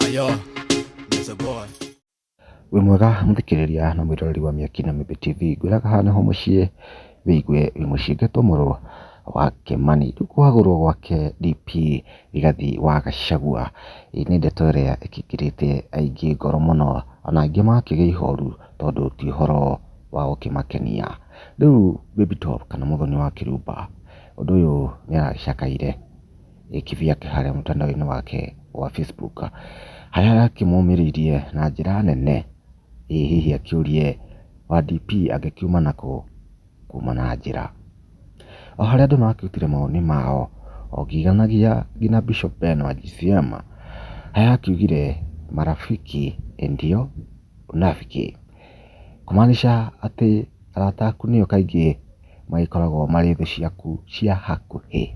Ayo, there's a boy. wĩ mwega mũthikĩrĩria na mwĩroreri wa mĩaki na mĩmbĩ tv ngwĩraga haha nĩho mũciĩ wĩigue wĩ mũciĩ ngetwo mũrũ wa kĩmani rĩu kwagũrwo gwake dp rigathi wa gacagua ĩĩ nĩ ndeto ĩrĩa ĩkĩkĩrĩte aingĩ ngoro mũno ona angĩ makĩgĩa ihoru tondũ ti ũhoro wa gũkĩmakenia rĩu baby top kana mũthoni wa kĩrumba ũndũ ũyũ nĩ aragĩcakaire gĩkĩbi yake harĩa mũtandao-inĩ wake wa Facebook, harĩa arakĩmũmĩrĩirie na njĩra nene, ĩ hihi akĩũrie wa DP angĩkiuma nakũ kuma na njĩra. O harĩa andũ marakĩrutire mawoni mao, o ngiganagia nginya Bishop Ben wa GCM, harĩa akiugire marafiki ndio unafiki, kũmaanisha atĩ arata aku nĩo kaingĩ magĩkoragwo marĩ thũ ciaku cia hakuhĩ.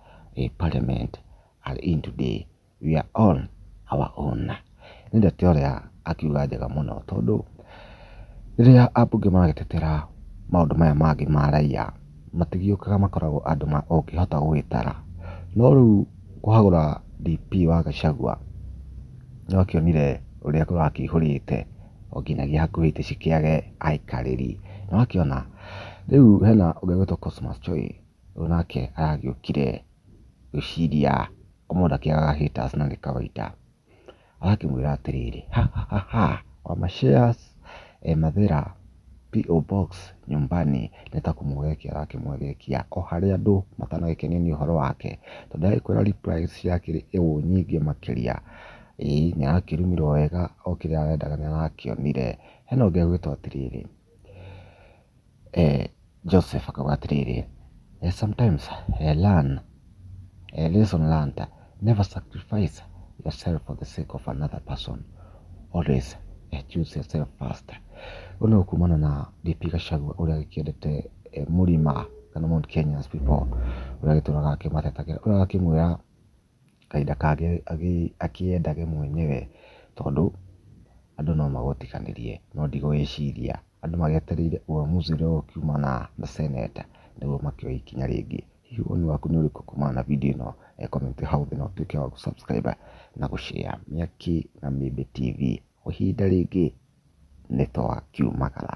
a parliament are in today we are on our own. Nĩ ndeto ĩrĩa akiuga njega mũno tondũ rĩrĩa ambunge magĩtetera maũndũ maya mangĩ ma raiya matigĩũkaga makoragwo andũ ũngĩhota gũgĩtara. No rĩu kũhagũra DP wa Gachagua nĩ wakĩonire ũrĩa kũrakĩihũrĩte o nginyagia hakuhĩ itĩ cikĩage aikarĩri. Nĩ wakĩona rĩu hena ũngĩ ũgwĩtwo Cosmas Choi Rĩu nake agĩũkire gwĩciria mũndũ akĩagaga haters na nĩ kawaida. Agakĩmwĩra atĩrĩrĩ, ha ha ha ha wa ma shares e mathĩra PO Box nyumbani. Nĩ ta kũmũgegia arakĩmũgegia o harĩa andũ matanagĩkenio nĩ ũhoro wake. Tondũ ndagĩkwĩra replies ciakĩrĩ o ũũ nyingĩ makĩria. Ĩĩ nĩ arakĩrumirwo wega o kĩrĩa arendaga nĩ arakĩonire. Hena ũngĩ ũgwĩtwo atĩrĩrĩ. Joseph akauga atĩrĩrĩ, Sometimes learn lesson learnt, never sacrifice yourself for the sake of another person, always choose yourself first. Ũyũ nĩ kumana na DP Gachagua ũrĩa ũkĩendete mũrima kana Mount Kenya people ũrĩa ũgĩtũraga akĩmatetagĩra, ũrĩa ũrakĩmwĩra kahinda kangĩ akĩyendage mwenyewe tondũ andũ no magũtiganĩrie no ndigũĩciria andũ magĩetereire ũamuzi ũrĩa ũkiumana na seneta nĩguo makĩoe ikinya rĩngĩ. Hihi woni waku nĩ ũrĩkũ kumana na video ĩno? He comment hau thĩ na ũtuĩke wa gũ subscribe na gũ share Mĩaki na Mĩmbi TV. Kwa ihinda rĩngĩ nĩ twakiumagara.